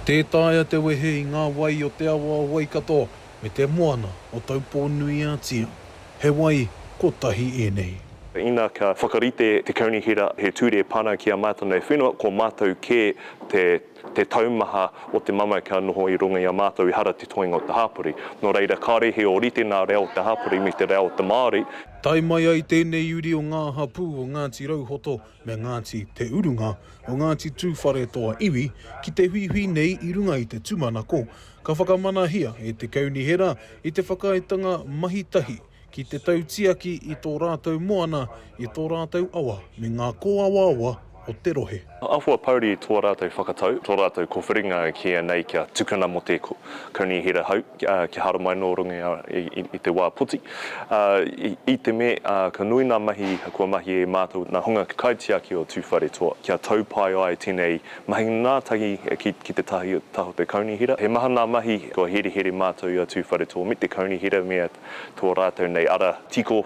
Tē taea te wehe i ngā wai o te awa o Waikato me te moana o Taupō-nui-a-Tia. He wai kotahi ēnei. Ina ka whakarite te Kaunihera he ture pana ki a mātou nei whenua, ko mātou kē te te taumaha o te mamae ka noho i runga i a mātou, ehara te toenga o te hapori. Nō reira, kāre he ōrite nā reo o te hapori me te reo o te Māori. Tae mai ai tēnei uri o ngā hapū o Ngāti Rauhoto me Ngāti Te Urunga o Ngāti Tūwharetoa iwi ki te huihui nei i runga i te tūmanako ka whakamanahia e te Kaunihera i te whakaaetanga mahi tahi ki te tautiaki i tō rātou moana, i tō rātou awa me ngā kōawaawa o te rohe. Āhua pouri tō rātou whakatau, tō rātou kōwhiringa ki ēnei kia tukuna mō te Kaunihera hou. kia haramai nō runga i te wā poti, i te me ka nui ngā mahi kua mahia e mātou nā Hunga Kaitiaki o Tūwharetoa kia tau pai ai tēnei mahi ngātahi ki te taha o te kaunihera. He maha ngā mahi kua herehere mātou i a Tūwharetoa me te kaunihera me tō rātou nei ara tiko.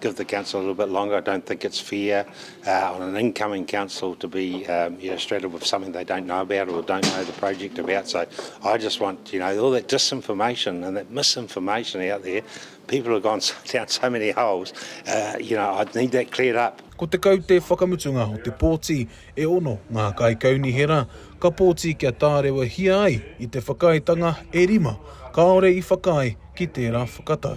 give the council a little bit longer. I don't think it's fair uh, on an incoming council to be um, you know, straddled with something they don't know about or don't know the project about. So I just want, you know, all that disinformation and that misinformation out there, people have gone down so many holes, uh, you know, I need that cleared up. Ko te kaute whakamutunga o te pōti e ono ngā kaikaunihera, ka pōti kia tārewahia ai i te whakaaetanga e rima, kāore i whakaae ki tērā whakatau.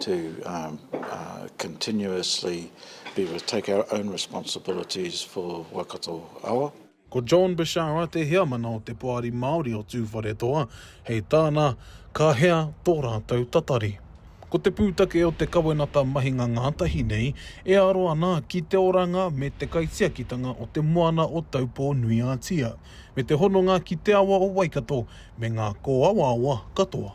to continuously be able to take our own responsibilities for Waikato Awa. Ko John Bishara te heamana o te Poari Māori o Tūwharetoa, hei tāna, Ka hea tō rātou tatari? Ko te pūtake o te kawenata mahinga ngātahi nei e aro ana ki te oranga me te kaitiakitanga o te moana o Taupō-nui-ā-Tia, me te hononga ki te awa o Waikato me ngā kōawaawa katoa.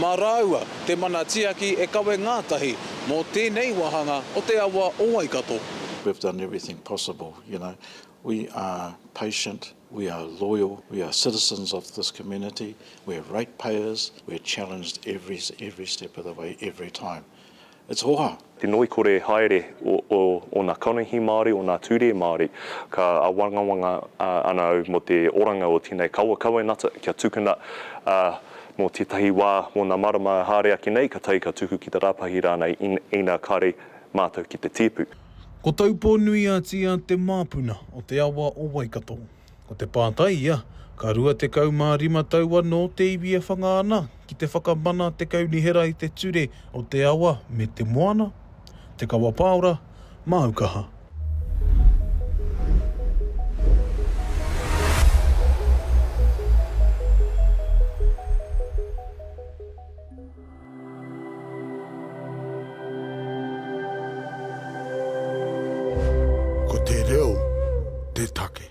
mā rāua te mana tiaki e kawe ngātahi mō tēnei wāhanga o te awa o Waikato. We've done everything possible, you know, we are patient, we are loyal, we are citizens of this community, we're ratepayers, we're challenged every every step of the way, every time. It's hoha. Te ngoikore haere o ona kanohi Māori, ona ture Māori. Ka awangawanga ana au mo te oranga o tenei kawa kawenata kia tukuna mo tetahi wa mona marama haere ake nei ka tae ka tuku ki te rapahi ranei ina kare matou ki te tipu. Ko Taupō-nui-a-Tia te māpuna o te awa o Waikato. Ko te pātai ia, ka 25 tau anō te iwi e whanga ana ki te whakamana te kaunihera i te ture o te awa me te moana? Te Kawapāora, māu kaha. Ko te reo te take.